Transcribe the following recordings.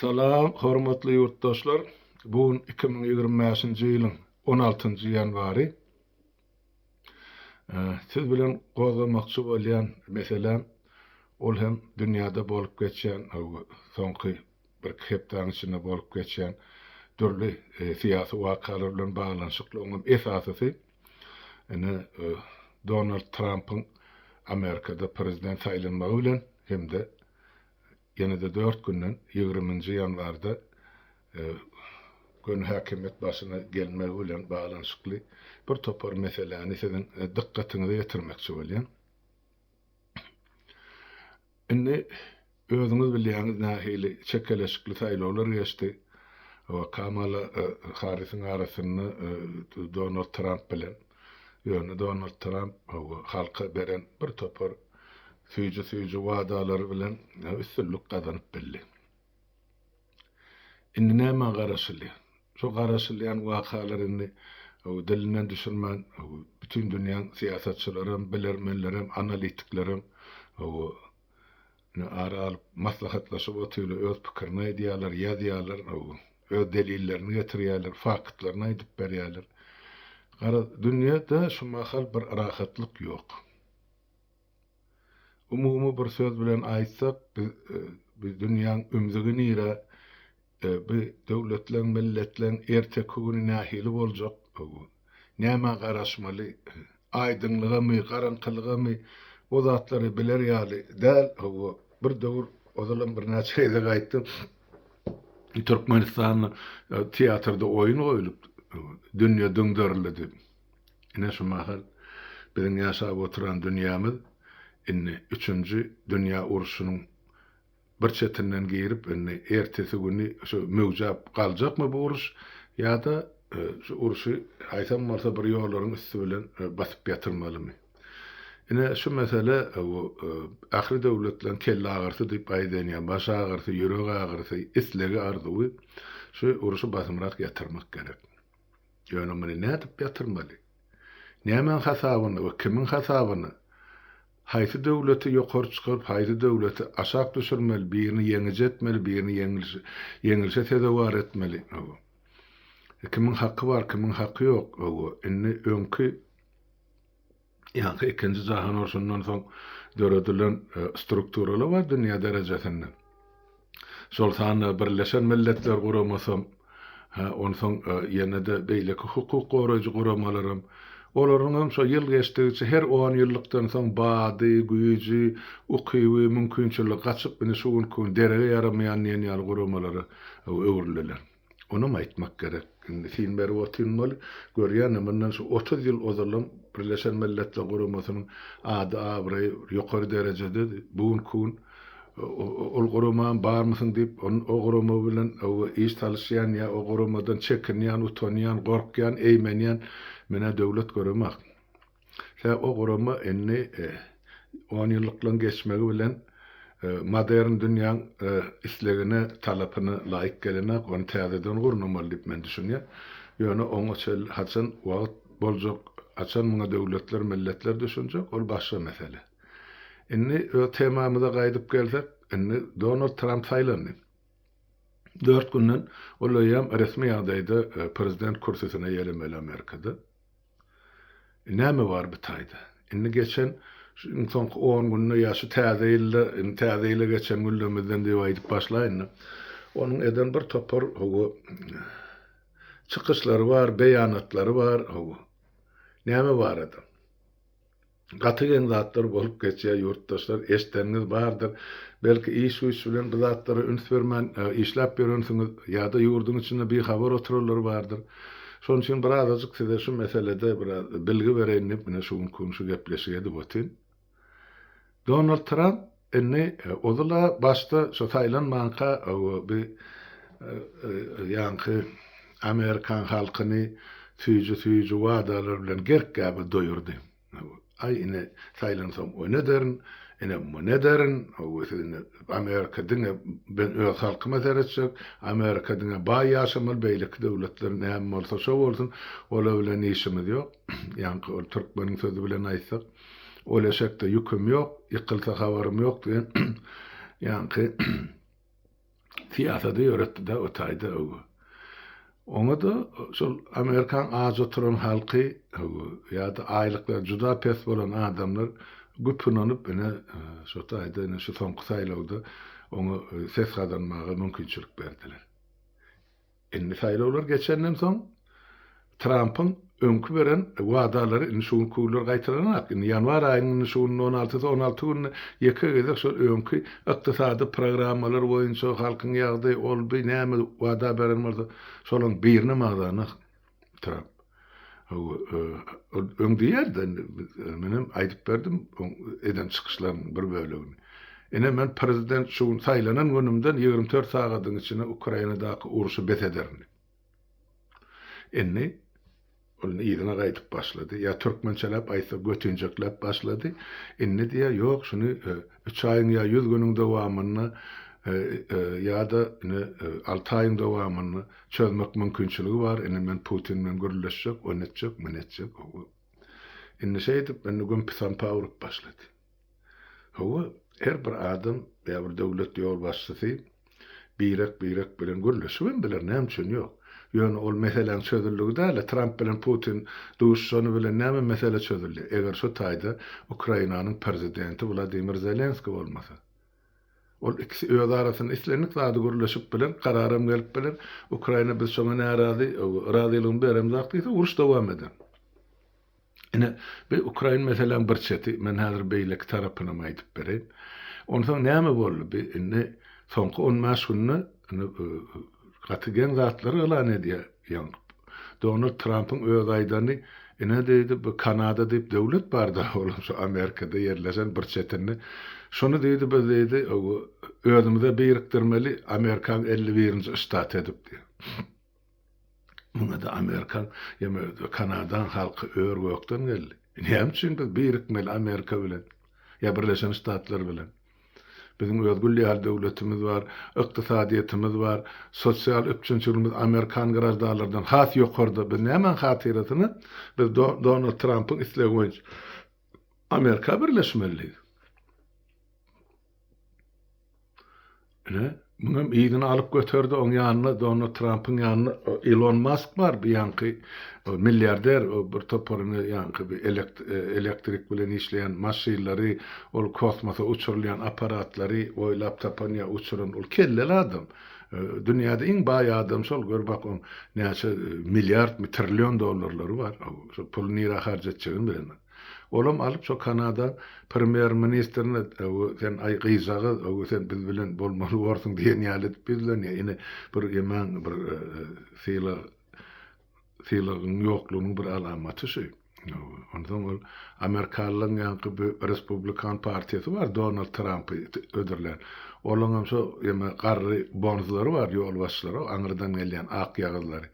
Salam, hormatly ýurtdaşlar! Bu gün iki müň ýigrimi bäşinji ýylyň on altynjy ýanwary. Siz bilen gozgamakçy bolýan meseläm, ol hem dünýäde bolup geçýän, soňky birki hepdäniň içinde bolup geçýän dürli e, syýasy wakalar bilen baglanyşykly, oňam esasysy Ine, Donald Trampyň Amerikada prezident saýlanmagy bilen hem-de ýene-de dört günden, ýigriminji ýanwarda göni häkimiýet başyna gelmegi bilen baglanyşykly birtopar meseläni siziň dykgatyňyza ýetirmekçi bolýan. Indi özüňiz bilýäňiz nähili çekeleşikli saýlawlar geçdi we Kamala Harrisiň arasynda Donald Tramp bilen. Ýöne Donald Tramp halka beren bir topar süýji-süýji wadalary bilen üstünlik gazanyp bildi. Indi nämä garaşylýar? Şu garaşylýan wakalar indi dilinden düşürmän, bütin dünýäň syýasatçylaram, bilermenlerem, analitiklerem ara alyp maslahatlaşyp otyrlar, öz pikirini aýdýarlar, ýazýarlar, öz delillerini getirýärler, faktlaryny aýdyp berýärler. Garaz, dünýede şu mahal bir rahatlyk ýok. Umumy bir söz bilen aýtsak, biz biz dünýäň ümzügi nire, bi döwletleň, milletleň erteki güni nähili boljak, nämä garaşmaly, aýdyňlygamy, garaňkylygamy, o zatlary biler ýaly däl. Hawa, bir döwür, ozalam birnäçe gezek aýtdym, Türkmenistanda teatrda oýun goýlupdy, dünýe düňderildi. Ine şu mahal biziň ýaşap oturan dünýämiz indi üçünji dünýä urşunyň bir çetinden girip indi ertesi güni şu möwjäp galjakmy bu uruş ýa-da şu urşy haýsam bolsa bir ýollaryň üsti bilen basyp ýatyrmalymy. Ine şu mesele bu ahyry döwletleň kelleagyrysy diýip aýdýan ýa baş agyrysy, ýürek agyrysy, islegi arzuwy şu urşy basymrak ýatyrmak gerek. Ýöne muny nädip ýatyrmaly? Nämäň hasabyna we kimiň hasabyna? Haýsy döwleti ýokary çykaryp, haýsy döwleti aşak düşürmeli, birini ýeňiji etmeli, birini ýeňilişe sezewar etmeli? Hawa. Kimiň haky bar, kimiň haky ýok? Hawa. Indi öňki. Ýaňky Ikinji jahan urşundan soň döredilen strukturalar bar dünýä derejesinde. Şol sanda Birleşen Milletler Guramasam, ha, onsoň ýene-de beýleki hukuk goraýjy guramalaram, olaryň hem şo ýyl geçdigiçe her on ýyllykdan soň bady, güýji, ukyby, mümkinçiligi gaçyp, indi şu günki gün derege ýaramaýan diýen ýaly guramalara öwrüldiler. Onam aýtmak gerek. Indi syn berip otynmaly. Görýäne, mundan şu otuz ýyl ozalam Birleşen Milletler Guramasynyň ady-abraýy ýokary derejededi. Bu günki gün ol guramam barmysyň diýip, o gurama bilen iş salyşýan ýa o guramadan çekinýän, utanýan, gorkýan, eýmenýän menä döwlet göremak. Tä o gurama indi onýyllyklaryň geçmegi bilen modern dünýäň islegine, talapyna laýyk gelenok, ony täzeden gurnamaly diýip men düşünýän. Ýöne oňa çenli haçan wagt boljak, haçan muňa döwletler, milletler düşünjek, ol başga mesele. Indi öz temamyza gaýdyp gelsek, indi Donald Tramp saýlandy. Dört günden ol eýýäm resmi ýagdaýda prezident kürsüsine ýelemeli Amerikada. Näme bar bi taýda? Indi geçen şu iň soňky on günde ýa şu täze ýylda, indi täze ýyla geçen günlerimizden diýip aýdyp başlaýyn-da. Onuň eden bir topar, hawa, çykyşlary bar, beýanatlary bar, hawa. Näme barada? Gaty geň zatlar bolup geçýär ýurtdaşlar eşdeniňiz bardyr. Belki iş güýç bilen bu zatlara üns bermän işläp ýörensiňiz ýada ýurduň içinde bi habar oturanlar bardyr. Şonuň üçin bir azajyk size şu meselede bir az bilgi bereýin diýip menä şu günki gün şu gepleşigi edip otyryn. Donald Tramp Indi ozal-a başda şo saýlanmanka bi ýaňky amerikan halkyny süýji-süýji wadalar bilen gerk-gäbe doýurdy. Aý ine saýlansoň o nederin, ine bu nederin, siz indi amerika diňe ben öz halkyma seretjek, amerika diňe baý ýaşamaly, beýleki döwletler näme bolsa şo bolsun, olar bilen işimiz ýok, ýaňky ol türkmeniň sözi bilen aýtsak. Ol eşekde ýüküm ýok, ýykylsa habarym ýok diýen ýaňky syýasady ýöretdi-de o taýda öwgi. Oňa-da şol Amerikan aç oturan halky öwgi ýa-da aýlyklary juda pes bolan adamlar güp ynanyp ine şo taýda ine şu soňky saýlawda oňa ses gazanmaga mümkinçilik berdiler. Indi saýlawlar geçenden soň Trampyň öňki beren wadalary indi şu günki günler gaýtalanak. Indi ýanwar aýynyň indi şu günde on altysy, on alty günde ýeke gezek şol öňki ykdysady programmalar boýunça halkyň ýagdy, ol-bu näme wada beren bolsa, şolaryň birini magzana. Trap. Hawa, öň diýerdi, menem aýdyp berdim eden çykyşlaryň bir bölegini. Ine men prezident şu gün saýlanan günümden ýigrimi dört sagadyň içinde Ukrainadaky urşy bes ederin diýip. Indi ol yzyna gaýdyp başlady. Ýa türkmençeläp aýtsa götinjekläp başlady. Indi diýýär, ýok şuny üç aýyň ýa ýüz günüň dowamynda ýa-da ine alty aýyň dowamynda Çözmek mümkinçiligi bar, indi men Putin bilen gürleşjek, ony etjek, muny etjek, hawa. Indi şeýdip, indi gümpy-sampa urup başlady. Hawa, her bir adam ýa bir döwlet ýolbaşçysy birek-birek bilen gürleşibem biler, näme üçin ýok. Ýöne ol meseläň çözüldigi däl-de, Tramp bilen Putin duşuşany bilen näme mesele çözüldi, eger şu taýda Ukrainanyň Prezidenti Wladimir Zelenskiý bolmasa. Ol ikisi öz arasynda islendik zady gürleşip biler, kararam gelip biler. Ukraina biz şoňa närazy, razylygymy beremzok diýse, uruş dowam eder. Ine, bi ukrain meseläň bir çeti, men häzir beýleki tarapynam aýdyp bereýin. Onsoň näme boldy? Bi indi soňky on bäş günde gaty geň zatlar yglan edýär. Ýaňy Donald Trampyň öz aýdany, ine diýdi, bu Kanada diýip döwlet bar-da, olam şu Amerikada ýerleşen bir çetinde. Şuny diýdi, biz diýdi, özümize birikdirmeli, Amerikaň elli birinji ştaty edip diýdi. Muňa-da Amerikaň, ýeme Kanadaň halky ör-gökden geldi. Näme üçin biz birikmeli Amerika bilen, ýa Birleşen Ştatlar bilen? Biziň öz gül ýaly döwletimiz bar, ykdysadyýetimiz bar, sosial üpjünçiligimiz amerikan graždanlardan has ýokarda. Biz nämäň hatyrasyna biz Donald Trampyň islegi boýunça Amerika birleşmelidigiz? Ine, Muňam yzyny alyp göterdi, oň ýanynda Donald Trampyň ýanynda Elon Mask bar, bu ýanky milliarder, o bir toparyny ýanky bir elektrik bilen işleýän maşynlary, ol kosmosa uçurylýan apparatlary oýlap tapan ýa uçuran, ol kelleli adam. Dünýäde iň baý adam şol, gör bak oň näçe milliardmy, trillion dollarlary bar, şo puly nirä harç etjegini bilenok. Olam alyp şo Kanada premýer ministrine öwi sen aý gyzjagaz öwi sen biz bilen bolmaly borsuň diýen ýaly edip biz bilen ýa ine bir ýaman bir syla sylagyň ýoklugynyň bir alamaty şü öwi. Onsoň ol amerikalylaň ýaňky bi respublikan partiýasy bar Donald Trampy ödürlän. Olaňam şo ýeme garry bonzlary bar ýolbaşçylary aňyrdan gelýän akýagyzlary.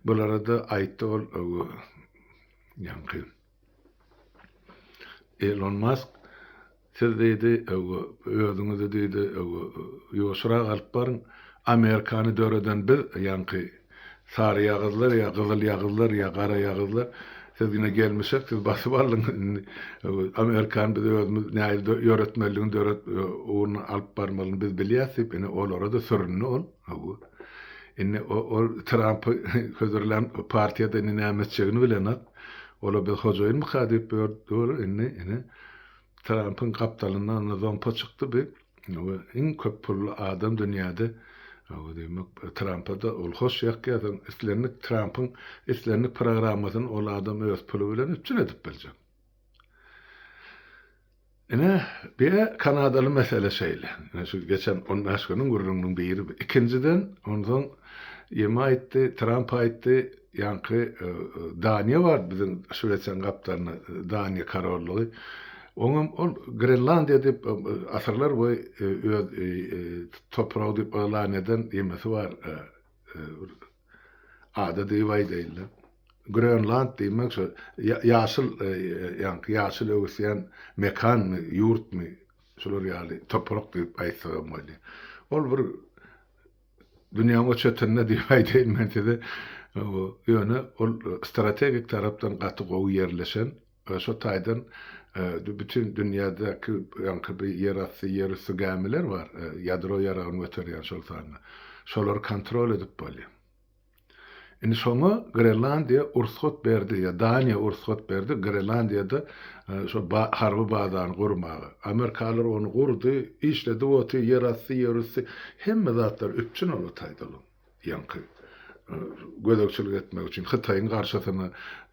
Bulara-da aýtdy ol öwi. Ýaňky. Elon Mask siz diýdi, öwü, özüňizi diýdi, öwü, ýuwaşyrak alyp baryň. Amerikany döreden biz, ýaňky saryýagyzlar ýa gyzylýagyzlar ýa garaýagyzlar. Siz ine gelmişek, siz basyp aldyňyz indi. Öwü, Amerikany biz özümiz nähili dö, ýöretmelidigini döret, öwü, ugruna alyp barmalyny biz bilýäs diýip, ine olara-da süründi ol. Hawa. Indi ol Trampy hödürlän partiýada indi näme etjegini bilenok. Ola biz hojaýynmyka diýip ýörüpdir indi. Ine, Trampyň gapdalyndan indi zompa çykdy bi. Hawa, iň köp pully adam dünýäde. Hawa, diýmek, Trampa-da ol hoş ýakýar. Soň islendik Trampyň islendik programmasyny ol adam öz puly bilen üpjün edip biljek. Ine, bir kanadaly mesele şeýle. Ine şu geçen on bäş günüň gürrüňiniň biri bu. Ikinjiden, onsoň ýeme aýtdy, Tramp aýtdy, ýaňky Daniýa bardy biziň Şwesiýanyň gapdalynda, Daniýa korollygy. Oňam ol Grenlandiýa diýip asyrlar boýy öz topragy diýip yglan eden ýemesi bar. Ada diýip aýdaýynda. Grönland diýmek şo ýaşyl ýaňky ýaşyl öwüsýän mekanmy, ýurtmy, şular ýaly toprak diýip aýtsak hem bolýar. Ol bir dünýäň o çetinde diýip aýdaýyn men size. Ýöne ol strategik tarapdan gaty gowy ýerleşen Şo taýdan bütin dünýädäki ýaňky bi ýerasty, ýerüsti gämiler bar, ýadro ýaragyny göterýän şol sanda. Şolary kontrol edip bolýar. Indi şoňa Grenlandiýa ursgat berdi, ýa Daniýa ursgat berdi Grenlandiýada şo harby bazany gurmaga. Amerikalylar ony gurdy, işledip otyr, ýerasty, ýerüsti hemme zatlar üpjün ol taýda olaň. Ýaňky gözegçilik etmek üçin Hytaýyň garşysyna,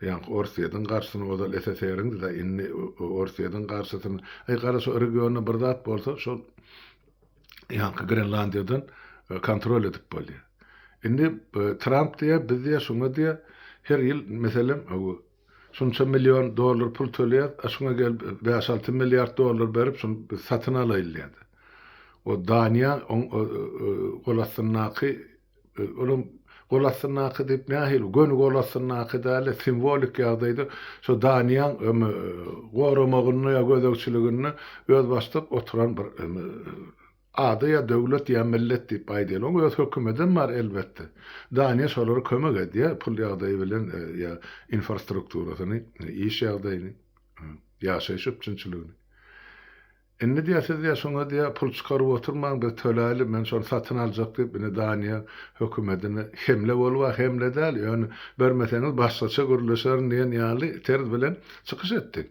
ýaňky Orsýetiň garşysyna, ozal SSR-iňdi-da, indi Orsýetiň garşysyna. Aý, gara, şo regionda bir zat bolsa, şol ýaňky Grenlandiýadan kontrol edip bolýar. Indi Tramp diýýär, biz diýýär, şuňa diýýär, her ýyl, meselem, Şunça million dollar pul töleýäs, a şuňa gelip bäş-alty milliard dollar berip şuny biz satyn alaýyn diýýärdi. O Daniýa oň gol astyndaky, ol hem gol astyndaky diýip nähili, göni gol astyndaky däl-de, simwolik ýagdaýda şo Daniýaň goramagynda ýa gözegçiliginde özbaşdak oturan bir Ady ýa döwlet ýa millet diýip aýdaýyloň öz hökümetem bar elbetde. Daniýa şolara kömek edýär pul ýagdaýy bilen ýa infrastrukturasyny, iş ýagdaýyny, ýaşaýyş üpjünçiligini. Indi diýä siz diýä şoňa diýä pul çykaryp oturmaň biz töläýli men şony satyn aljak diýip indi Daniýa hökümetine hemle bolup a hemle däl ýöne bermeseňiz başgaça gürleşerin diýen ýaly terz bilen çykyş etdi.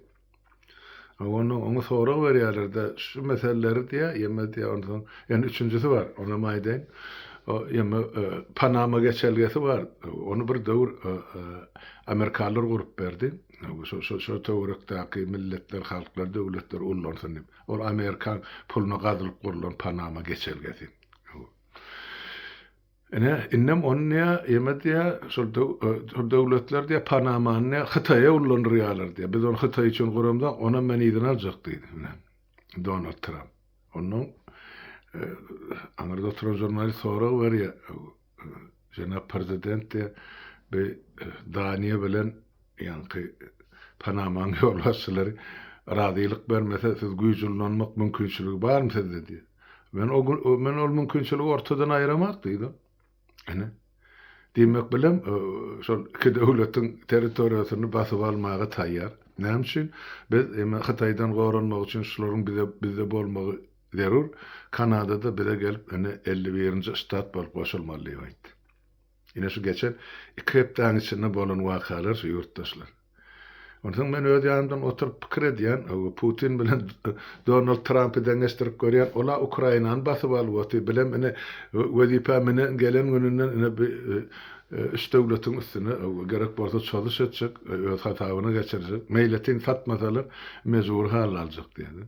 A ondan oňa sorag berýärler-de, şu meseleleri diýýär, ýeme diýýär, ondan soň ýene üçünjisi bar, onam aýdaýyn. O, ýeme, Panama geçelgesi bar, ony bir döwür amerikalylar gurup berdi. Şo-şo-şo töwerekdäki milletler, halklar, döwletler ullansyn diýip. Ol amerikan puluna gazylyp gurlan Panama geçelgesi. Ine, indem ony diýýä, ýeme diýýä, şol döw-öö, döwletler diýýä, Panamany diýýä, Hytaýa ullandyrýarlar diýýä. Biz ony Hytaý üçin guramzok, onam men yzyna aljak diýdi, ine, Donald Tramp. Onnoň, öö, aňyrda oturan žurnalist sorag berýä, öö, jenap Prezident diýýä, bi, öö, Daniýa bilen, Ýaňky Panamaň ýolbaşçylary razylyk bermese, siz güýç ullanmak mümkinçiligi barmy sizde diýip. Men o gün men ol mümkinçiligi ortadan aýramak diýdim. Ine. Diýmek bilen, şol iki döwletiň territoriýasyny basyp almaga taýýar. Näme üçin? Biz eme Hytaýdan goranmak üçin şularyň bize bizde bolmagy zerur. Kanada-da bize gelip, ene 51-nji ştat bolup goşulmaly diýip aýtdy. Ine şu geçen iki hepdäň içinde bolan wakalar şu ýurtdaşlar. Onsoň men öz ýanymdan oturyp pikir edýän, ow Putin bilen Donald Trampy deňeşdirip görýän, ol-a Ukrainany basyp alyp otyr, bilem ine wezipä münen gelen gününden ine bi üç döwletiň üstüne ow gerek bolsa çozuş etjek, öz hasabyna geçirjek, meýletin satmasalar mejbury halda aljak diýýär.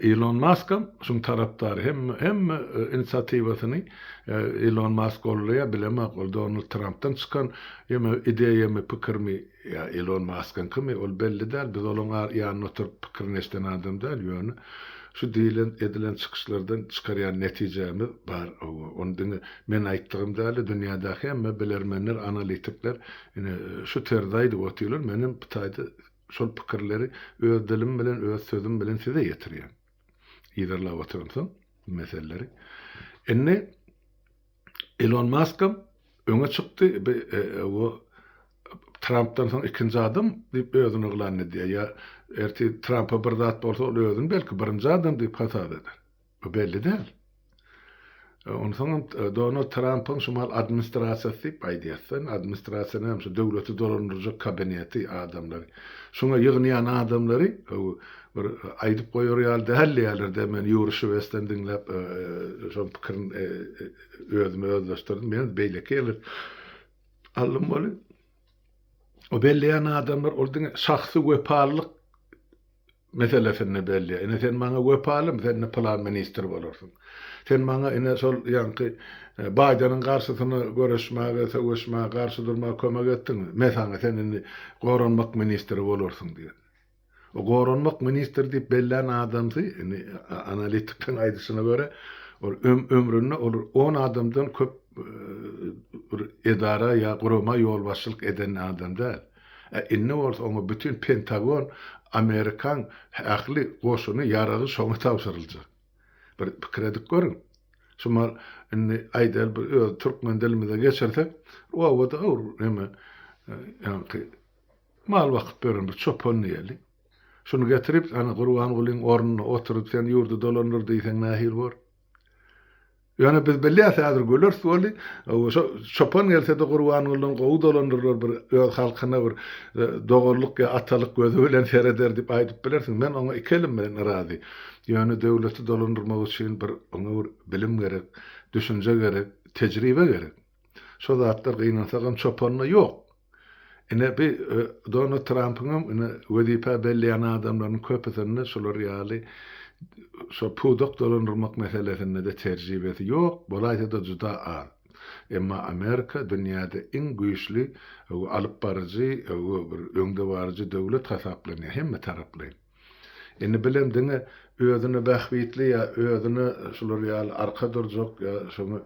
Ilon Maskam şuň tarapdary. Hemme hemme e, inisiatiwasyny e, Ilon Mask goldaýar, bilemok, ol Donald Trampdan çykan ýeme ideýamy, pikirmi, ýa Ilon Maskyňkymy, ol belli däl. Biz olaň ar ýanynda oturyp pikirini eşden adam däl, ýöne şu diýlen, edilen çykyşlardan çykarýan netijämiz bar. Hawa, ony diňe men aýtdygym däl-de, dünýädäki hemme bilermenler, analitikler ine şu terzi aýdyp otyrlar. Menem bu taýda Şol pikirleri öz dilim bilen, öz sözüm bilen size ýetirýän. Yzarlap oturamsoň bu meseleleri. Indi Elon Maskam öňe çykdy, bu e, e, Trampdan soň ikinji adam diýip özüni yglan edýär. Ýa erti Trampa bir zat bolsa, ol özüni belki birinji adam diýip hasap eder. Bu belli däl. Onsoňam Donald Trampyň şu mahaly administrasiýasy diýip aýdýarsyň. Administrasiýa näme? Şu döwleti dolandyrjak kabineti, adamlary. Şuňa ýygnaýan adamlary bir aýdyp goýar ýaly däldiýýärler-dä. Men Ýuri Şwesden diňläp şoň pikirin özüme özleşdirdim. Men beýleki ýerler aldym weli. O belleýän adamlar ol diňe şahsy wepalylyk meselesinde belli. Ine, sen maňa wepalymy, sen ine pylan ministr bolarsyň. Sen maňa ine şol ýaňky Baýdeniň garşysyna göreşmäge, söweşmäge, garşy durmaga kömek etdiňmi? Men saňa sen indi goranmak ministri bolarsyň diýen. O goranmak ministri diýip bellän adamsy, indi analitikleň aýdyşyna görä, ol ömründe ol on adamdan köp bir edara ýa gurama ýolbaşçylyk eden adam däl. Ä indi bolsa oňa bütin Pentagon, Amerikaň ähli goşuny, ýaragy şoňa tabşyryljak. Bir pikir edip görüň. Şumal indi aýdaýly bir öz türkmen dilimize geçirsek, obada bir neme, ýaňky mal bakyp ýören bir çopan diýeli. Şuny getirip, ana Gurbangulyň ornuna oturyp sen ýurdy dolandyr diýseň nähili bor? Ýöne biz bilýäs häzir güleris boldy. Şo çopan gelsede Gurbangulydan gowy dolandyrlar bir öz halkyna bir doganlyk ýa atalyk gözi bilen sereder diýip aýdyp bilersiň. Men oňa iki elim bilen yrazy. Ýöne döwleti dolandyrmak üçin bir oňa bir bilim gerek, düşünje gerek, tejribe gerek. Şo zatlar gynansagam çopanda ýok. Ine bi Donald Trampyňam ine wezipä belleýän adamlarynyň köpüsinde şular ýaly şo pudak dolandyrmak meselesinde-de terjibesi ýok, bolaýsa-da juda az. Emma Amerika dünýäde iň güýçli alypbaryjy we bir öňdebaryjy döwlet hasaplanýar hemmetaraplaýyn. Indi bilen diňe özüne bähbitli ýa özüne şular ýaly arka durjak ýa şoňa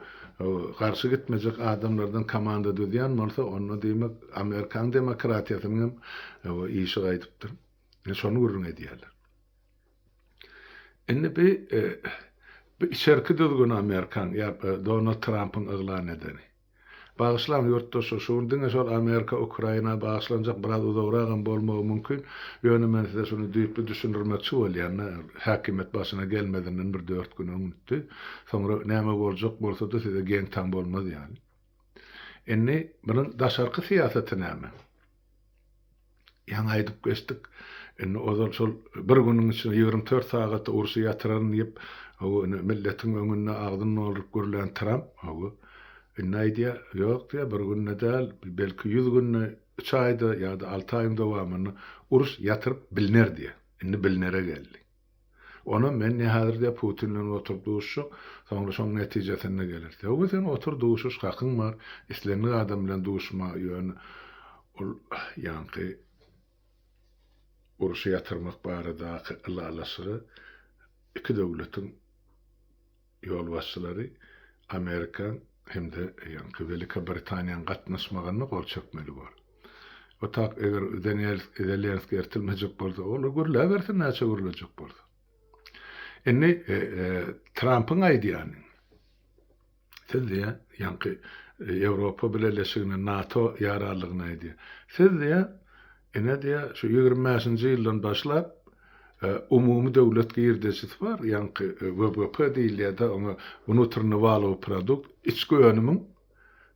garşy gitmejek adamlardan komanda düzýän bolsa, onda diýmek Amerikan demokratiýasynyň hem işi gaýdypdyr. Şony gürrüň edýärler. Indi bi bu içerki düzgün Amerikan ýa Donald Trampyň yglan edeni. Bagyşlaň ýurtdaşlar şu gün diňe şol Amerika Ukraina bagyşlanjak biraz uzagragam bolmagy mümkin ýöne men size şuny düýpli düşündirmekçi bolýanda häkimiýet başyna gelmezinden bir dört gün öňütdi soňra näme boljak bolsada size geň-taň bolmaz ýaly indi bunuň daşarky syýasaty näme? Ýaňy aýdyp geçdik. Indi ozal şol bir günüň içinde ýigrimi dört sagata urşy ýatyraryn diýip, hawa, indi milletiň öňünde agzyny dolduryp gürlän Tramp, hawa, indi aýdýar, Ýok, diýýär, bir günde däl, belki ýüz günde, üç aýda ýa-da alty aýyň dowamynda uruş ýatyryp bilner diýýär. Indi bilnere geldi. Onam men ne häzirde Putin bilen oturyp duşuşjak, soňra şoň netijesinde geler. Töwbe sen otur duşuş hakyň bar, islendik adam bilen duşma ýöne ol ýaňky uruşy ýatyrmak baradaky ylalaşygy iki döwletiň ýolbaşçylary Amerika hem-de ýaňky Welika Britaniýanyň gatnaşmagyna gol çekmeli bor. Otap eger Deniel Zelenskiý ertilmejek bolsa, olar gürläbersin näçe gürlejek bolsa. Indi Trampyň aýdýany, siz diýýär, ýaňky Ýewropa Bileleşigine, NATO ýararlygyna aýdýar. Siz diýýär, Ine diýä, şu ýigrimi bäşinji ýyldan başlap umumy döwlet girdejisi bar, ýaňky WBP diýilýär-de, oňa Wnutrnny walowy produkt, içki önümiň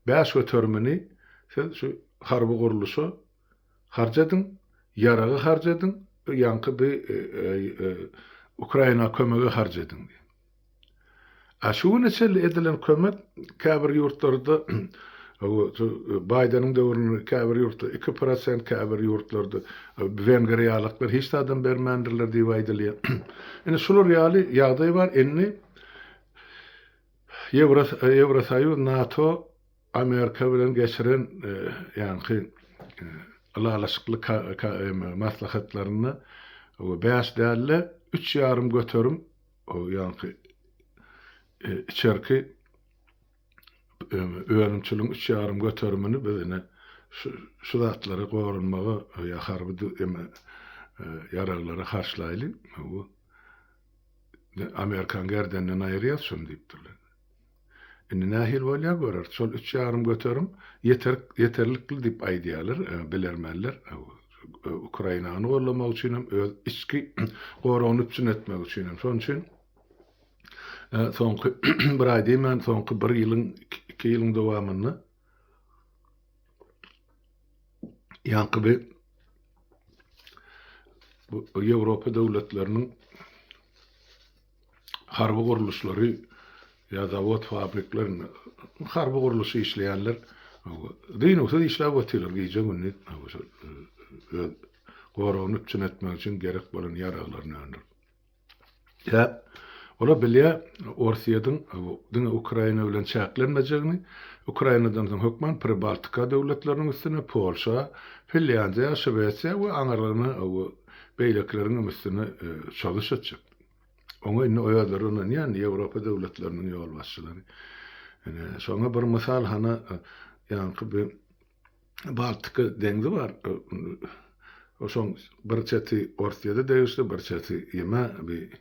bäş göterimini siz şu harby gurluşa harç ediň, ýaraga harç ediň, ýaňky bi Ukraina kömege harç ediň diýen. A şu güne çenli edilen kömek käbir ýurtlarda Baýdeniň döwründe käbir ýurtda iki prosent, käbir ýurtlarda wengriýalyklar hiç zadam bermändirler diýip aýdylýar. Indi şular ýaly ýagdaý bar. Indi Ýewrosoýuz, NATO Amerika bilen geçiren ýaňky ylalaşykly maslahatlarynda bäş däl-de, üç ýarym göterim ýaňky içerki önümçiligiň üç ýarym göterimini biz ine şu zatlary goranmaga ýa harby ýaraglara harçlaýly. Amerikan gerdeninden aýyrýas şony diýipdirler. Indi nähili bolýar göreris. Şol üç ýarym göterim ýeterik, ýeterlikli diýip aýdýarlar bilermenler. Ukrainany goldamak üçin hem, öz içki goragyny üpjün etmek üçin hem. Şonuň üçin soňky bir aý diýmän, soňky bir ýylyň, iki ýylyň dowamynda ýaňky bir Ýewropa döwletleriniň harby gurluşlary ýa zawod fabrikler harby gurluş işleýänler dynuwsyz işläp otyrlar gije gündiz öz goragyny üpjün etmek üçin gerek bolan ýaraglaryny öndürip ýa Ola bilýä Orsyýediň diňe Ukraina bilen çäklenmejegini, Ukrainadan soň hökman Pribaltika döwletleriniň üstüne, Polşa, Finlýandiýa, Şwesiýa we aňyrlygyna beýlekileriňem üstüne çozuş etjek. Oňa indi o özleri ynanýan Ýewropa döwletleriniň ýolbaşçylary. Ine, şoňa bir mysal hana ýaňky bir Baltika deňzi bar. Oşoň bir çeti Orsiýada degişli, bir çeti ýeme bir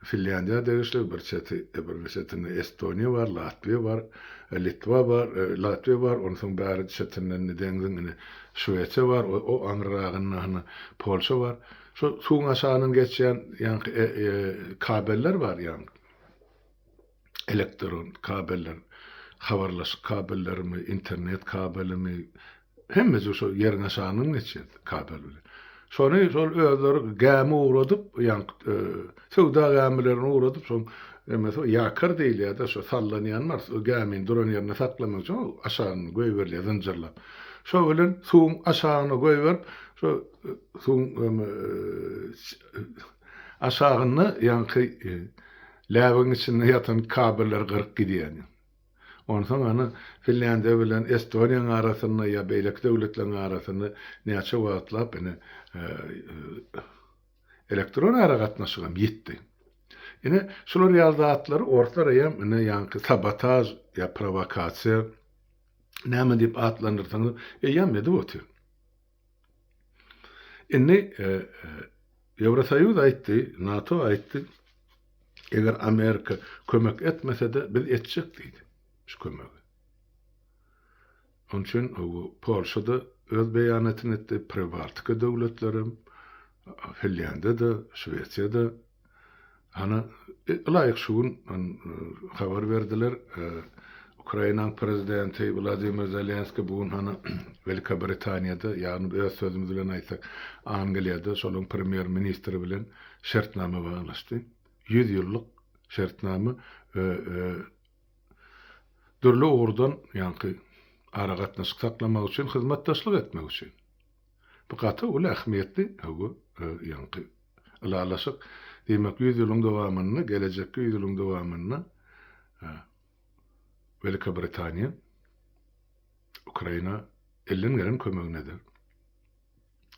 Finlýandiýa degişli, bir çeti, bir çetinde Estoniýa bar, Latwiýa bar, Litwa bar, Latwiýa bar, ondan soň bäri çetinden deňziň ine Şwesiýa bar, o aňyrragynda hana Polşa bar. Şol suwuň aşagyndan geçýän ýaňky kabeller bar ýaňky. Elektron kabeller, habarlaşyk kabellerimi, internet kabelimi, hemmejik şol ýeriň aşagyndan geçýär kabel bilen. Şony şol özleri gämi ugradyp, ýaňky söwda gämilerini ugradyp, şoň emesi ýakar diýilýär-de, şo sallanýan bar, şo gämini duran ýerinde saklamak üçin aşagyna goýberilýär zynjyrlap. Şo bilen suwuň aşagyna goýberip, şo Suwuň aşagynda ýaňky läbigiň içinde ýatan kabelleri gyryp gidýän. Onsoň ony Finlýandiýa bilen Estoniýanyň arasynda ýa beýleki döwletleriň arasynda näçe wagtlap ine elektron aragatnaşygam ýitdi. Ine şular ýaly zatlary orslar eýýäm ine ýaňky sabotaž ýa prowokasiýa näme diýip atlandyrsaňyzam eýýäm edip otyr. Indi Ýewrosoýuz aýtdy, NATO aýtdy, eger Amerika kömek etmese-de biz etjek diýdi şu kömegi. Onuň üçin Polşa-da öz beýanatyny etdi, Pribaltika döwletlerem, Finlýandiýa-da, Şwesiýa-da Ana, ylaýyk şu gün habar berdiler, Ukrainanyň prezidenti Wladimir Zelenski bu gün hany Welikä Britaniýada, ýagny öz sözümiz bilen aýtsak, Angliýada şolaryň premýer-ministri bilen şertnama baglaşdy. Ýüz ýyllyk şertnama we dürli ugurdan, ýagny aragatnaşyk saklamak üçin, hyzmatdaşlyk etmek üçin. Bu gaty uly ähmiýetli höwwa ýaňky ylalaşyk. Diýmek, ýüz ýylyň dowamynda, gelejekki ýüz ýylyň dowamynda Welikä Britaniýa Ukraina elden gelen kömegini eder.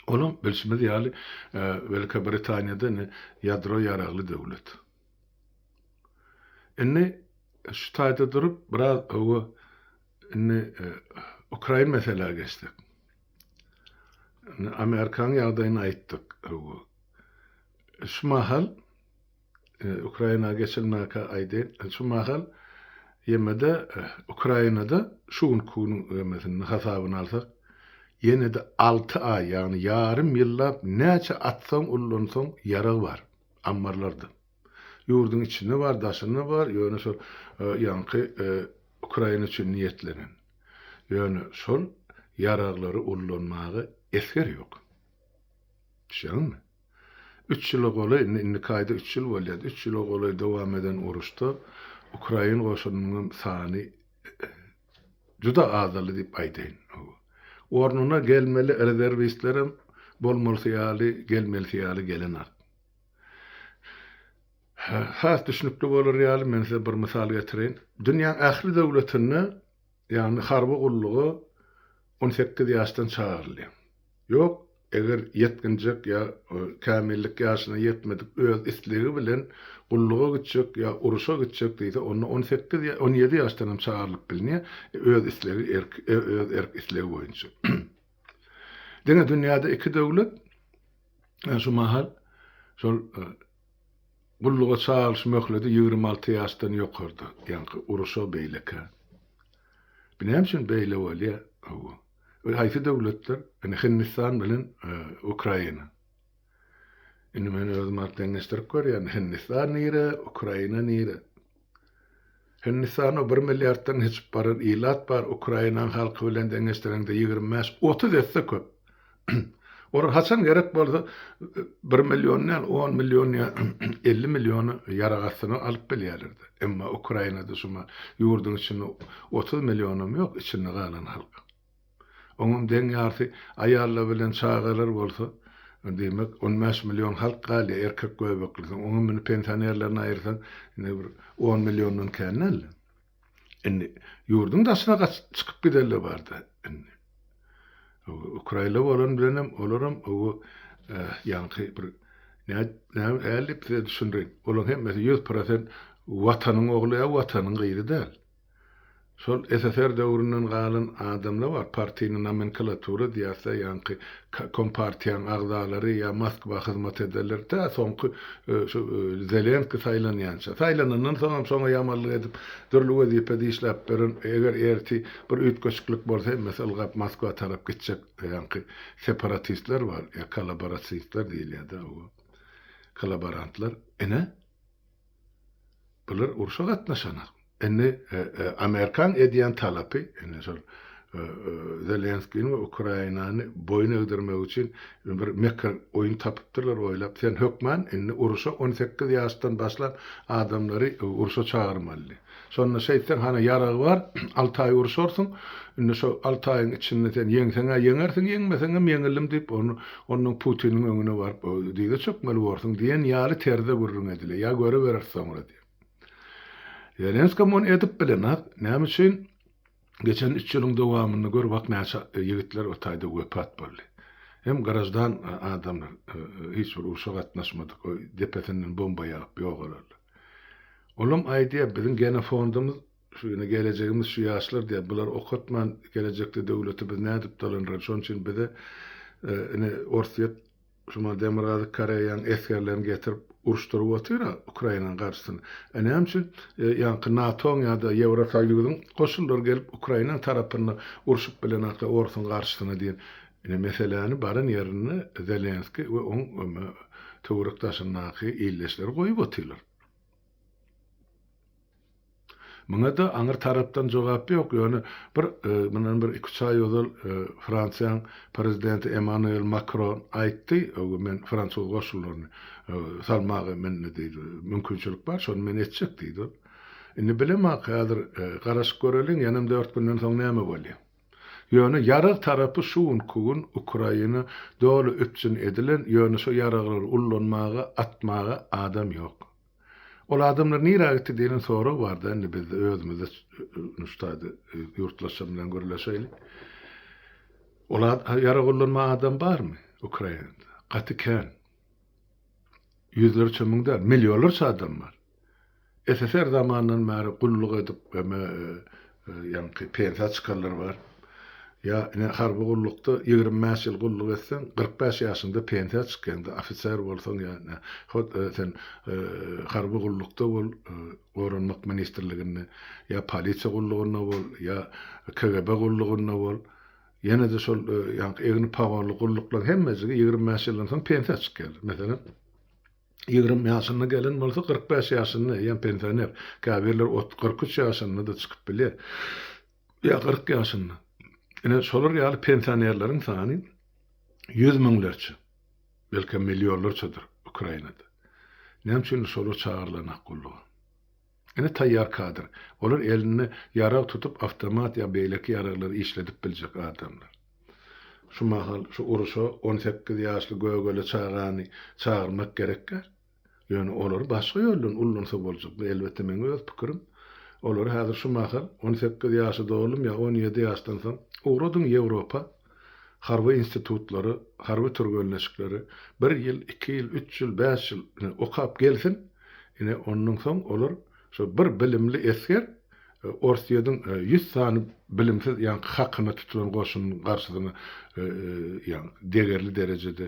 Olam bilşimiz ýaly, Welikä Britaniýada indi ýadro ýaragly döwlet. Indi şu taýda durup biraz höwwa indi Ukrain meselä geçsek. Indi Amerikanyň ýagdaýyny aýtdyk. Şu mahal e, Ukraina geçilmäkä aýdýan. E, şu mahal ýemede e, Ukrainada şu günki günüň ýemesini hasabyny alsak, ýene-de 6 aý, ýagny ýarym ýyllap näçe atsaň, ullansaň ýarag bar ammarlarda. Ýurduň içinde bar, daşynda bar, ýöne şol ýaňky Ukraina üçin niýetlenen. Ýöne şol ýaraglary ullanmaga esger ýok. Düşýäňizmi? Üç ýyla golaý, indi indiki aýda üç ýyl bolýar, üç ýyla golaý dowam eden uruşda ukrain goşunynyň hem sany juda azaldy diýip aýdaýyn. Ornuna gelmeli rezerwistlerem bolmalysy ýaly, gelmelisi ýaly gelenok. Has düşnükli bolar ýaly men size bir mysal getireýin. Dünýäň ähli döwletinde, ýagny harby gulluga on sekiz ýaşdan çagyrylýar. Ýok, eger ýetginjek ýa kämillik ýaşyna ýetmedik öz islegi bilen gulluga gitjek ýa uruşa gitjek diýse, onda on sekiz ýa on ýedi ýaşdan hem çagyrylyp bilner, öz islegi erki, öz erk-islegi boýunça. Diňe dünýäde iki döwlet, Ýa şu mahal şol gulluga çagyryş möhleti ýigrimi alty ýaşdan ýokarda, ýaňky uruşa beýlekä. Bu näme üçin beýle bolýar? Hawa. Ol haýsy döwletler? Indi Hindistan bilen Ukraina. Indi men özüm deňeşdirip görýän, Hindistan nire, Ukraina nire? Hindistanda bir milliarddan geçip baran ilat bar, Ukrainaň halky bilen deňeşdireňde ýigrimi bäş, otuz esse köp. Olar haçan gerek bolsa bir million däl, on million ýa elli million ýarag astyna alyp bilýärler-de. Emma Ukrainada şuma ýurduň içinde otuz millionam ýok içinde galan halk. Onuň deň ýarysy aýallar bilen çagalar bolsa, diýmek, on bäş million halk galýar, erkek göbeklisi. Oňa muny pensionerlerini aýyrsaň, indi bir on milliondan kän däl-de. Indi ýurduň daşyna gaçyp çykyp giderler bar-da indi. Ukrainli bolan bilenem olaram oba ýaňky bir näme hälip size düşündireýin. Olaň hemmesi ýüz prosent Watanyň ogly ýa Watanyň gyzy däl. Şol SSR döwründen galan adamlar bar, partini nomenkalatura diýäsda ýaňky kompartiýaň agzalary ýa Moskwa hyzmat ederler, tä soňky şu Zelenski saýlanýança. Saýlanandan soňam şoňa ýamallyk edip dürli wezipe dişläp beren, eger erti bir üýtgeşiklik bolsa hemmesi ylgap Moskwa tarap gitjek ýaňky separatistler bar ýa kolaborasistler diýilýärda, kolaborantlar. Ine. Bular urşa gatnaşanok. Indi Amerikaň edýän talapy, indi şol Zelenskini we Ukrainany boýun egdirmek üçin bir mekir oýun tapypdyrlar oýlap, sen hökman indi urşa on sekiz ýaşdan başlan adamlary urşa çagyrmalydy. Şonda şeýtseň, hany, ýaragy bar, alty aý urşarsyň. Indi şo alty aýyň içinde sen ýeňseň-ä ýeňersiň, ýeňmeseňem ýeňildim diýip, ony ondan Putiniň öňüne baryp, dyza çökmeli borsuň diýen ýaly terzde gürrüň edile. Ýa görübereris soňra diýip. Zelenska muny edip bilenok. Näme üçin? Geçen üç ýylyň dowamynda gör wah näçe ýigitler o taýda wepat boldy. Hem graždan adamlar, hiç bir urşa gatnaşmadyk, depesinden bomba ýagyp ýok olarlar. Olam aýdýar, biziň genofondymyz şu, ýöne gelejegimiz şu ýaşlar diýýär, bular okatman gelejekde döwleti biz nädip dolandyraly, şonuň üçin bize ine Orsýet Şumal Demirgazyk Koreýaň esgerlerini getirip uruşdyryp otyr-a Ukrainanyň garşysyna. E näme üçin ýaňky NATO-nyň ýa-da Ýewrosoýuzyň goşunlary gelip Ukrainanyň tarapynda urşup bilenoklar orsuň garşysyna diýen ine meseläni baran ýerinde Zelenskiý we oň töwerek daşyndaky ildeşleri goýup otyrlar. Muňa-da aňry tarapdan jogap ýok, ýöne bir, mundan bir iki-üç aý ozal Fransiýaň Prezidenti Emmanuel Makron aýtdy, men fransuz goşunlaryny salmaga mende diýdi, mümkinçilik bar, şony men etjek diýdi ol. Indi bilemok, häzir garaşyp göreliň, ýanam dört günden soň näme bolýar. Ýöne ýarag tarapy şu günki gün Ukraina doly üpjün edilen, ýöne şo ýaraglary ullanmaga, atmaga adam ýok. Ol adamlar nirä gitdi diýlen sorag barda indi bizde özümizde nuşdaýda ýurtlaşan bilen gürleşeýlik. Ol ýarag ullanma adam barmy Ukrainada? Gaty kän. Ýüzlerçe müň däl, millionlarça adam bar. SSR zamanyndan bäri gulluk edip eme ýaňky pensiýa çykanlar bar. Ýa ine harby gullukda ýigrimi bäş ýyl gulluk etseň, kyrk bäş ýaşyňda pensiýa çykýaňda ofiser bolsaň ýa ine hut sen harby gullukda bol, goranmak ministrliginde ýa polisiýa gullugynda bol, ýa KGB gullugynda bol, ýene-de şol ýaňky egni pagonly gulluklaryň hemmejigi ýigrimi bäş ýyldan soň pensiýa çykýarlar. Meselem, ýigrimi ýaşynda gelen bolsa, kyrk bäş ýaşynda, eýýäm pensioner. Käbirler ot, kyrk üç ýaşynda-da çykyp bilýär. Ýa kyrk ýaşynda. Ine, şolar ýaly pensionerleriň sany ýüz müňlerçe, belkem, millionlarçadyr Ukrainada. Näme üçindir, şolar çagyrylan ak gulluga. Ine taýýar kadr. Olar elinde ýarag tutup awtomat ýa beýleki ýaraglary işledip biljek adamlar. Şu mahal şu uruşa on sekiz ýaşly gögele çagany çagyrmak gerekkä? Ýöne olary başga ýoldan ullansa boljak. Bu elbetde meň öz pikirim. Olary häzir şu mahal on sekiz ýaşy doldym ýa on ýedi ýaşdan soň ugradyň Ýewropa. harby institutlary, harby türgenleşikleri bir ýyl, iki ýyl, üç ýyl, bäş ýyl okap gelsin, ine, ondan soň olar şo bir bilimli esger Orsýediň ýüz sany bilimsiz ýaňky hakyna tutulan goşunynyň garşysyna degerli derejede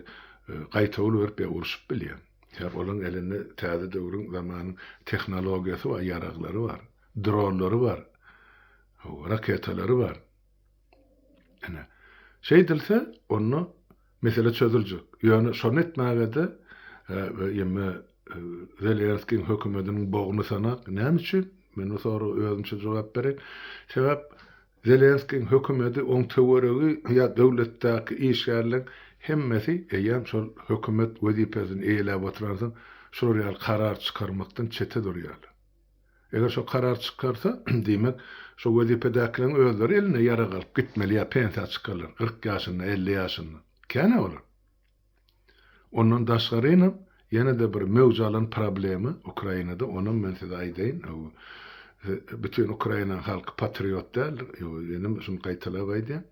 gaýtawul berip ýa urşup bilýär. Sebäbi olaryň elinde täze döwrüň, zamanyň tehnologiýasy bar, ýaraglary bar, dronlary bar, raketalary bar. Ine, şeýdilse, onda mesele çözüljek. Ýöne şony etmäge-de ýeme Zelenskiň hökümetiniň bogny sanak. Näme üçin? Men bu soraga özümçe jogap bereýin. Sebäp Zelenskiň hökümeti, oň töweregi ýa döwletdäki işgärleriň hemmesi eýýäm şol hökümet wezipesini eýeläp oturansoň, şular ýaly karar çykarmakdan çete durýarlar. Eger şo karar çykarsa, diýmek, şo wezipedäkileriň özleri elinde ýarag alyp gitmeli ýa pensiýa çykarlar, kyrk ýaşynda, elli ýaşynda. Kän-ä olar. Ondan daşgarynam, ýene-de bir möwj alan problema Ukrainada, onam men size aýdaýyn, bütin Ukrainanyň halky patriot däldir, ýöne men şuny gaýtalap aýdýan.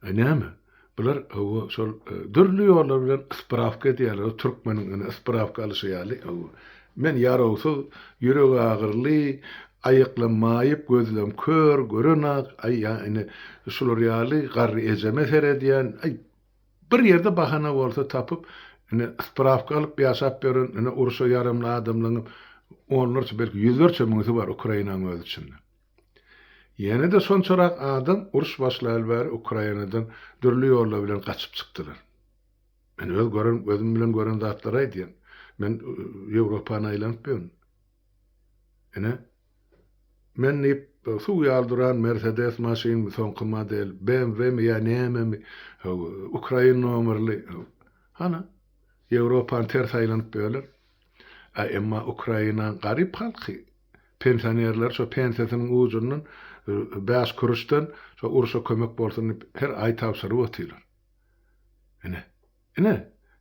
Näme? Bular hawa şol dürli ýollar bilen ysprawka edýärler, türkmeniň ine ysprawka alyşy ýaly. Hawa. Men ýarawsyz, ýüregi agyryly, aýaklam maýyp, gözlem kör, görenok, aý ýa ine şular ýaly garry ejeme seredýän, aý bir ýerde bahana bolsa tapyp, ine ysprawka alyp ýaşap ýören ine urşa ýaramly adamlaryňam onlarça belki ýüzlerçe müňüsi bar Ukrainaň öz içinde. Ýene-de şonçarak adam uruş başlaýaly bäri Ukrainadan dürli ýollar bilen gaçyp çykdylar. Men öz gören gözüm bilen gören zatlary aýdýan. Men Ýewropany aýlanyp ýörün. Ine Men diýip suw ýaly duran Mercedes maşynmy soňky model BMWmi ýa nämemi Ukraina nomerli hany Ýewropany ters aýlanyp ýörler. A emma Ukraina garyp halky pensionerler şo pensiýasynyň ujundan bäş kuruçdan şo uruşa kömek bolsun diýip her aý tabşyryp otyrlar. Ine. Ine.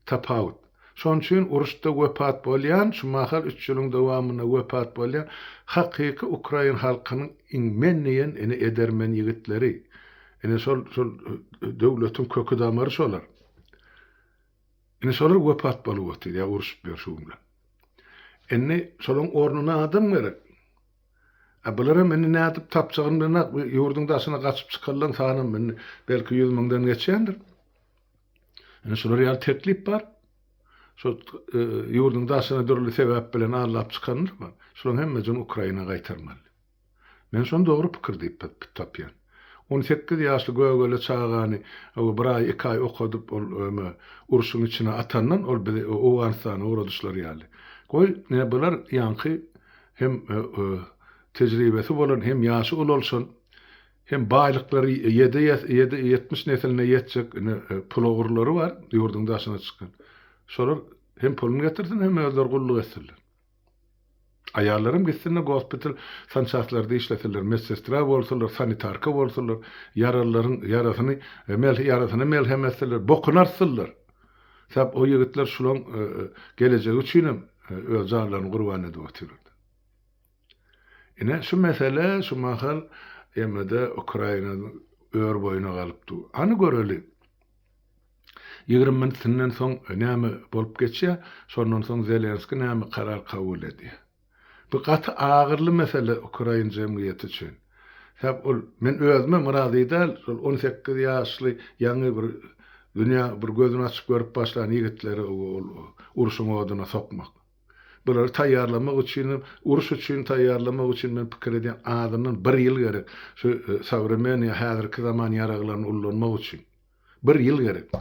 Tapawut. Şonuň üçin uruşda wepat bolýan, şu mahal üç ýylyň dowamynda wepat bolýan hakyky ukrain halkynyň iň men diýen ine edermen ýigitleri. Ine şol şol döwletiň köki-damary şolar. Indi şolar wepat bolup otyr ýa uruşyp ýör şu gün bilen. Indi şolaryň ornuna adam gerek. A bularam indi nädip tapjagyny bilenok, bu ýurduň daşyna gaçyp çykarylan sanam indi belki ýüz müňden geçýändir. Indi şular ýaly teklip bar. Şu e, ýurduň daşyna dürli sebäp bilen allap çykanlar bar. Şolaryň hemmejini Ukraina gaýtarmaly. Men şony dogry pikir diýip tapýan. On sekiz ýaşly gögele çagany bir aý, iki aý okadyp, ol urşuň içine atandan, ol bizi Owganystana ugradyşlary ýaly. Goý, bular ýaňky hem tejribesi bolan, hem ýaşy ulalşan, hem baýlyklary ýedi ýedi ýetmiş nesline ýetjek pulagurlary bar, ýurduň daşyna çykan. Şolar hem puluny getirsin, hem özleri gulluk etsinler. Aýallaram gitsinler gospital sançastlarida işlesinler, medsestra bolsunlar, sanitarka bolsunlar, ýaralylaryň ýarasyny ýarasyna melhem etsinler, bokuny artsynlar. Sebäp o ýigitler şulaň gelejegi üçinem öz janlaryny gurban edip otyrlar. Ine şu mesele şu mahal emmede Ukraina örboýuna galypdy. Hany göreli. Ýigrimi minutinden soň näme bolup geçýär, şondan soň Zelenski näme karar kabul edýär? Bu gaty agyryly mesele ukrain jemgyýeti üçin. Sebäp ol, men özümem razy däl, şol on sekiz ýaşly ýaňy bir dünýä bir gözüni açyp görüp başlan ýigitleri ol urşuň oduna sokmak. Bulary taýýarlamak üçinem, uruş üçin taýýarlamak üçin men pikir edýän azyndan bir ýyl gerek, şu sowremennyý häzirki zaman ýaraglaryny ullanmak üçin. Bir ýyl gerek.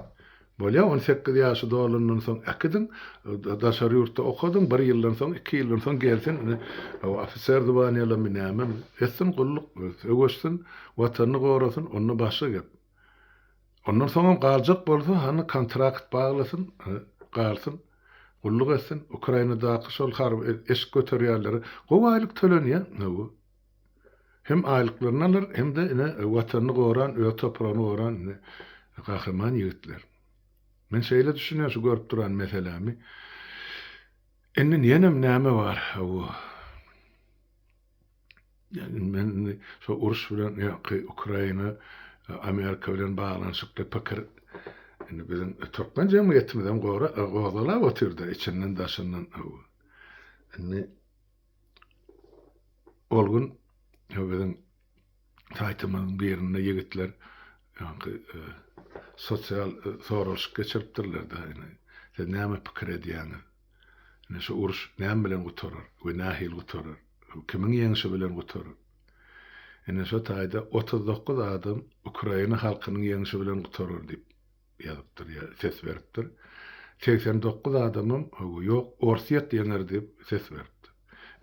Bolýa, on sekiz ýaşy dolandan soň äkidiň, daşary ýurtda okadyň, bir ýyldan soň, iki ýyldan soň gelsin, ine, ofiser zwanýalamy, nämemi, etsin gulluk, söweşsin, Watanyny gorasyn, onda başga gep. Ondan soňam galjak bolsa, hany kontrakt baglasyn, galsyn, gulluk etsin, Ukrainadaky şol harby eşik göterýänlere gowy aýlyk tölenýär, hawa. Hem aýlyklaryny alar, hem-de ine Watanyny goran, öz topragyny goran ine gahryman ýigitler. Men şeýle düşünýän şu görüp duran meselämi. Indi ýenem näme bar, hawa. Ýani men indi şu uruş bilen ýa-ki Ukraina, Amerika bilen baglanyşykly pikir indi biziň türkmen jemgyýetimizem gora gozgalap otyr-da içinden-daşyndan, hawa. Indi Ol gün biziň saýtymyzyň birinde ýigitler ýaňky e, sosial e, soralyşyk geçiripdirler-de, siz näme pikir edýäňiz? Ine şu uruş näme bilen gutarar we nähili gutarar? Kimiň ýeňşi bilen gutarar? Ine şu taýda otuz dokuz adam Ukraina halkynyň ýeňşi bilen gutarar diýip ýazypdyr ýa ses beripdir. Segsen dokuz adamam hawa ýok Orsýet ýeňer diýip ses beripdir.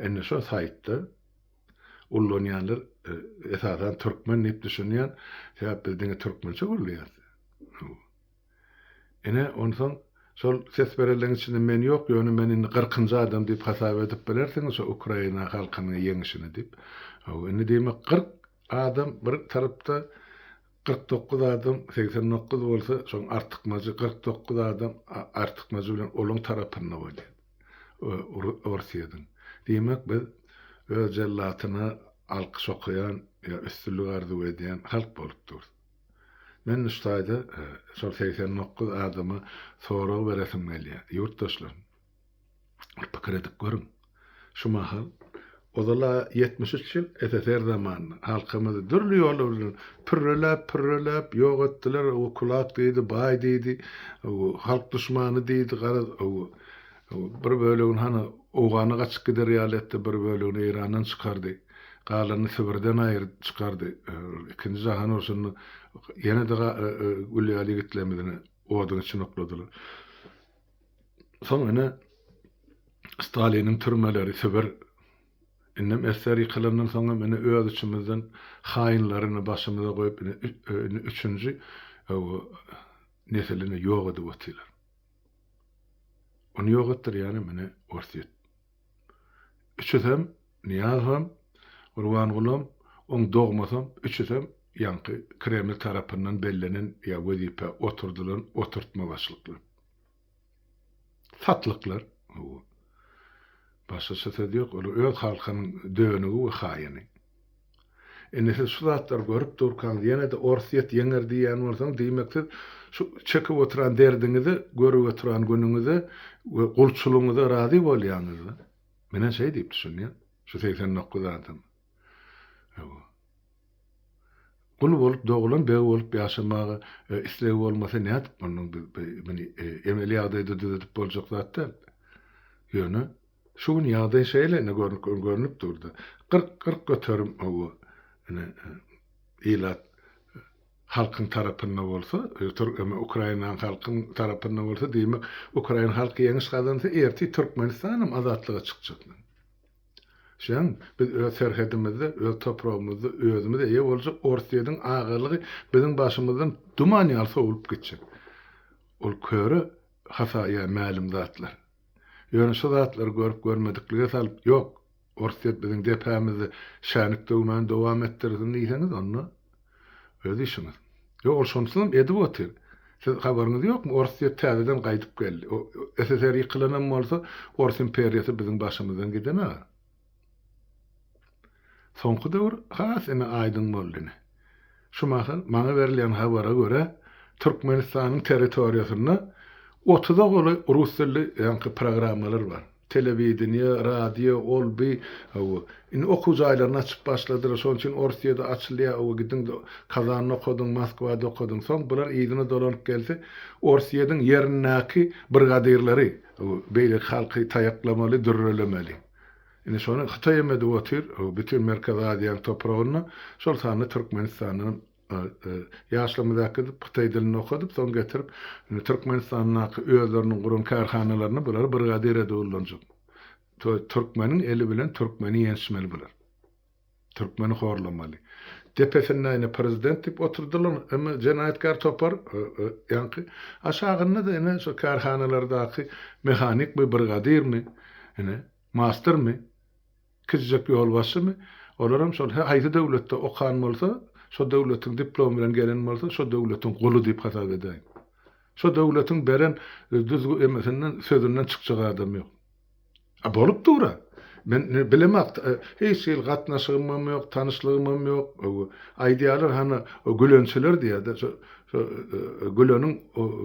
Indi şo saýtda ullanýanlar esasan türkmen diýip düşünýän sebäp biz diňe türkmençe gürleýäs. Ine onsoň şol ses berenleriň içinde men ýok ýöne men indi gyrkynjy adam diýip hasap edip bilersiňiz şo Ukraina halkynyň ýeňişini diýip. Hawa indi diýmek kyrk adam bir tarapda Kyrk dokuz adam, segsen dokuz bolsa, şoň artykmajy, kyrk dokuz adam artykmajy bilen olaň tarapynda bolýar. Orsýetiň. Diýmek, biz öz jellatyna alkyş okaýan ýa üstünlik arzuw edýän halk bolup durus. Men şu taýda şol segsen dokuz adama sorag beresim gelýär. Ýurtdaşlarym! Bir pikir edip görüň, şu mahal, ozal-a ýetmiş üç ýyl SSR zamanynda halkymyzy dürli ýollar bilen pürreläp, pürreläp ýok etdiler, o kulak diýdi, baý diýdi, halk duşmany diýdi, garaz, bir bölegini hany Owgana gaçyp gider ýaly etdi, bir bölegini Eýrandan çykardy, galanyny Sibirden aýryp çykardy, ikinji jahan urşunda ýene-de gül ýaly ýigitlerimizi oduň içine okladylar. Soň ine Staliniň türmeleri Sibir indem esser ýykylandan soň hem ine öz içimizden haýynlary ine başymyza goýup ine indi üçünji nesil ine ýok edip otyrlar. Ony ýok etdirýän hem ine Orsýet. Üçüsem Nyýazow hem Gurbanguly hem oň dogmasy hem üçüsem ýaňky Kreml tarapyndan bellenen ýa wezipä oturdylan oturtma başlyklar. Satlyklar, hawa. Başgaça söz ýok, olar öz halkynyň dönügi we haýyny. Indi siz şu zatlary görüp durkaňyz ýene-de Orsyýet ýeňer diýýän bolsaňyz, diýmek siz şu çekip oturan derdiňize, görüp oturan günüňize we gulçulygyňyza razy bolýaňyz-da. Menen şeý diýip düşünýän şu segsen dokuz adam. Hawa. Gul bolup dogulan beg bolup ýaşamaga islegi bolmasa nädip munyň muny emeli ýagdaýda düzedip boljak zat däl. Ýöne şu gün ýagdaý şeýle ine görnüp durdy. Gyrk gyrk göterim hawa ine ilat halkyň tarapynda bolsa türkmen ukrainan halkyň tarapynda bolsa diýmek ukrain halky ýeňiş gazansa ertir türkmenistan hem azatlyga çykjak. Şeýdem, biz öz serhedimizde, öz topragymyzda özümiz eýe boljak Orsýetiň agalygy biziň başymyzdan duman ýaly sowlup gitjek. Ol köre hata ýa mälim zatlar. Ýöne şu zatlary görüp-görmediklige salyp, Ýok, Orsýet biziň depämizde şänik döwmän dowam etdirsin diýseňiz, onda. Öz işiňiz. Ýok, ol şonusynam edip otyr. Siz habaryňyz ýokmy, orus diýip täzeden gaýdyp geldi. SSR ýykylanam bolsa, Orus imperiýasy biziň başymyzdan gidemeg. Soňky döwür has ine aýdyň boldy ine. Şu mahal maňa berilýän habara görä, Türkmenistanyň territoriýasynda otuza golaý rus dilli ýaňky programmalar bar. Telewideniýe, radio, ol bi ow. Indi okuw jaýlaryny açyp başladylar. Şonuň üçin Orsyýada açylýar ow. Gidiň Kazanda okadyň, Moskwada okadyň. Soň bular yzyna dolanyp gelse, Orsyýadyň ýerindäki brigadyrlary ow, beýleki halky taýaklamaly, dürrelemeli. Indi şony Hytaýam edip otyr ow, bütin Merkezi Aziýanyň topragynda, şol sanda Türkmenistandanam. Ýaşlarymyza äkidip, hytaý dilini okadyp, soň getirip, indi Türkmenistandaky özleriniň guran kärhanalarynda bulary brigadir edip ullanjak. Türkmeniň eli bilen türkmeni ýençmeli bular. Türkmeni horlamaly. Depesinde ine prezident diýip oturdylar, emma jenaýatkär topar, ýaňky aşagynda-da ine şu kärhanalardaky mehanikmi, brigadirmi, ine, Mastermi? Kižžek ýolbaşçymy? Olaram şol, haýsy döwletde okan bolsa, şo döwletiň diplomy bilen gelen bolsa, şo döwletiň guly diýip hasap edäýiň. Şo döwletiň beren düzgü emesinden, sözünden çykjak adam ýok. A bolup dur-a. Men bilemok, hiç hili gatnaşygymam ýok, tanyşlygymam ýok. Aýdýarlar, hany, o gülençiler diýýär-de, şo Güleniň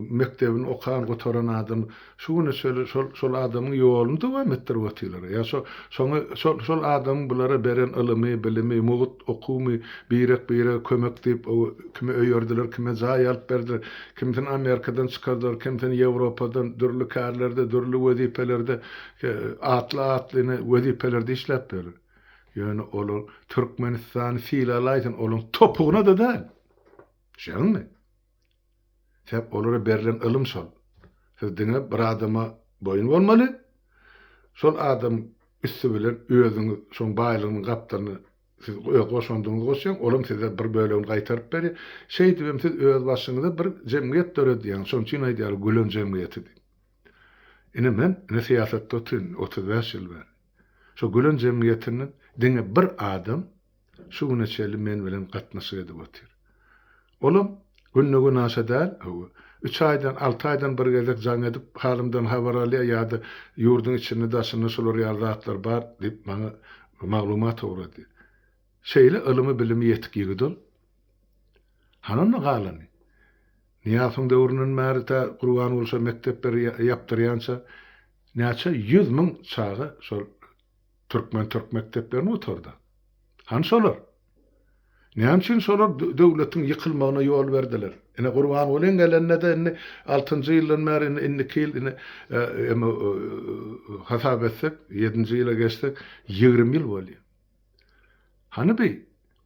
mekdebini okan, gutaran adamy. Şu güne çenli şol, şol adamyň ýoluny dowam etdirip otyrlar. Ýa şo, şoňa, şol, şol adamyň bulara beren ylymy, bilimi, mugt okuwymy birek-birege kömek diýip, o, kimi öýerdiler, kime jaý alyp berdiler, kimisini Amerikadan çykardylar, kimisini Ýewropadan, dürli kärlerde, dürli wezipelerde, e, atly-atlyny wezipelerde işläp ýörler. Ýöne olar Türkmenistany sylalaýsyn, olaryň topugyna-da däl. Düşýäňizmi? Sebäp olara berlen ylym şol. Siz diňe bir adama boýun bolmaly, şol adam üsti bilen özüňiz şoň baýlygynyň gapdalyny siz öz goşandyňyzy goşýaň, olam size bir bölegini gaýtaryp berýär. Şeýdibem siz öz başyňyza bir jemgyýet döredýäňiz, şoň üçin aýdýarlar gülen jemgyýeti diýip. Ine men ine syýasatda otyryn otuz bäş ýyl bäri. Şo gülen jemgyýetinden diňe bir adam şu güne çenli men bilen gatnaşyk edip otyr. Olam günde-günaşa däl, hawa, üç aýdan, alty aýdan bir gezek jaň edip, halymdan habar alýar ýa-da ýurduň içinde-daşynda şular ýaly zatlar bar diýip, maňa maglumat ugradýar. Şeýle ylymy-bilimi ýetik ýigit ol. Hany onda galany? Nyýazowyň döwründen bäri tä Gurbanguly şo mekdepleri ýapdyrýança näçe ýüz müň çaga şol Türkmen-türk mekdeplerini gutardy. Hany şolar? Näme üçin şolar döwletiň ýykylmagyna ýol berdiler? Ine, Gurbangulyň gelende-de indi altynjy ýyldan bäri, indi indiki ýyl, indi em-ä hasap etsek, ýedinji ýyla geçsek, ýigrimi ýyl bolýar. Hany bi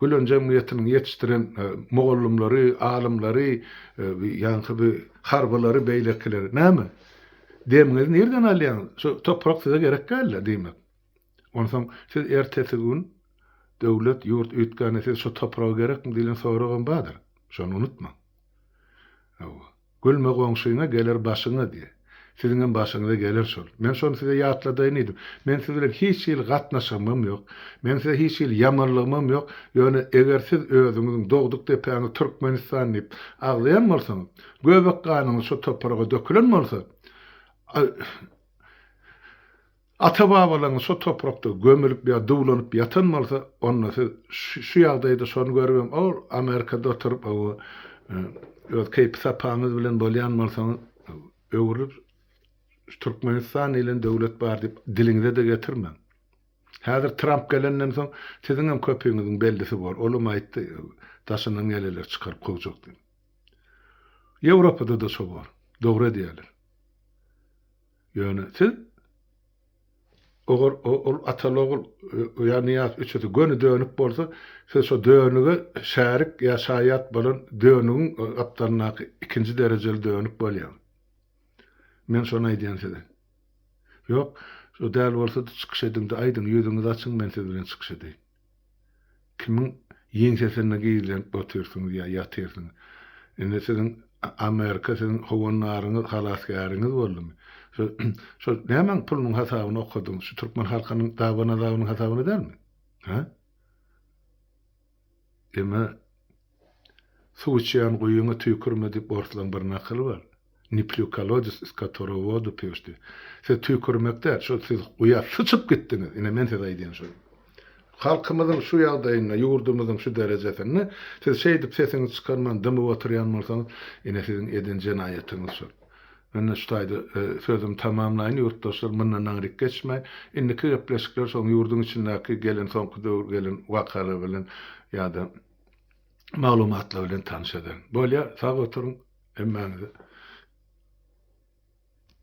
Gülen jemgyýetiniň ýetişdiren mugallymlary, alymlary, ýaňky bi harbylary, beýlekileri. Näme? Demiňizi nirden alýaňyz? Şu toprak size gerek däl-le, diýmek. Onsoň siz ertesi gün döwlet, ýurt üýtgände siz şu topragy gerekmi diýlen soragam bardyr. Şony unutmaň. Hawa. Gülme goňşyňa geler başyňa diýe. Siziňem başyňyza geler şol. Men şony size ýatladaýyn diýdim. Men siz bilen hiç hili gatnaşygymam ýok. Meniň size hiç hili ýamanlygymam ýok. Ýöne eger siz özüňiziň dogduk depäňiz Türkmenistan diýip agzaýan bolsaňyz, göbek ganyňyz şo topraga dökülen bolsa, Ata-babalaryňyz şo toprakda gömülip ýa duwlanyp ýatan bolsa, onda siz şu ýagdaýda şony görüp hem o Amerikada oturyp o öz keýpi-sapaňyz bilen bolýan bolsaňyz, öwrülip Türkmenistan diýlen döwlet bar diýip diliňize-de getirmäň. Häzir Tramp gelenden soň siziň hem köpüňiziň bellisi bor. Olam aýtdy, daşyndan geleler çykaryp kowjak diýip. Ýewropada-da şo bor. Dogry edýärler. Ýöne siz ogar ol ataly ogul ýa Nyýaz üçüsi göni dönük bolsa siz şo dönüge şärik ýa şaýat bolan dönügiň gapdalyndaky ikinji derejeli dönük bolýaň. Men şony aýdýan size. Ýok, şo däl bolsady çykyş ediňde aýdyň ýüzüňizi açyň men siz bilen çykyş edeýin. Kimiň ýeňsesinde gizlenip otyrsyňyz ýa ýatyrsyňyz? Indi siziň Amerika siziň howandaryňyz, halasgäriňiz boldumy? Şo şol nämäň pulunyň hasabyny okadyňyz? Şu türkmen halkynyň daban-azabynyň hasabyny dälmi? Hä? Emma Suw içýän guýyňa tüýkürme diýip orslaň bir nakyly bar. Ne plyu kolodec iz katorego vodu piju şti. Siz tüýkürmek däl, şul siz guýa syçyp gitdiňiz. Ine men size aýdýan şol. Halkymyzyň şu ýagdaýynda, ýurdumyzyň şu derejesinde siz şeýdip sesiňizi çykarman dymyp oturýan bolsaňyz, ine siziň eden jenaýatyňyz şol. Mende şu taýda sözümi tamamlaýyn ýurtdaşlar mundan naňryk geçmäý. Indiki gepleşikler şoň ýurduň içindäki gelen soňky döwür gelen wakalar bilen ýa-da maglumatlar bilen tanyş ederin. Bolýar, sag oturyň hemmäňize.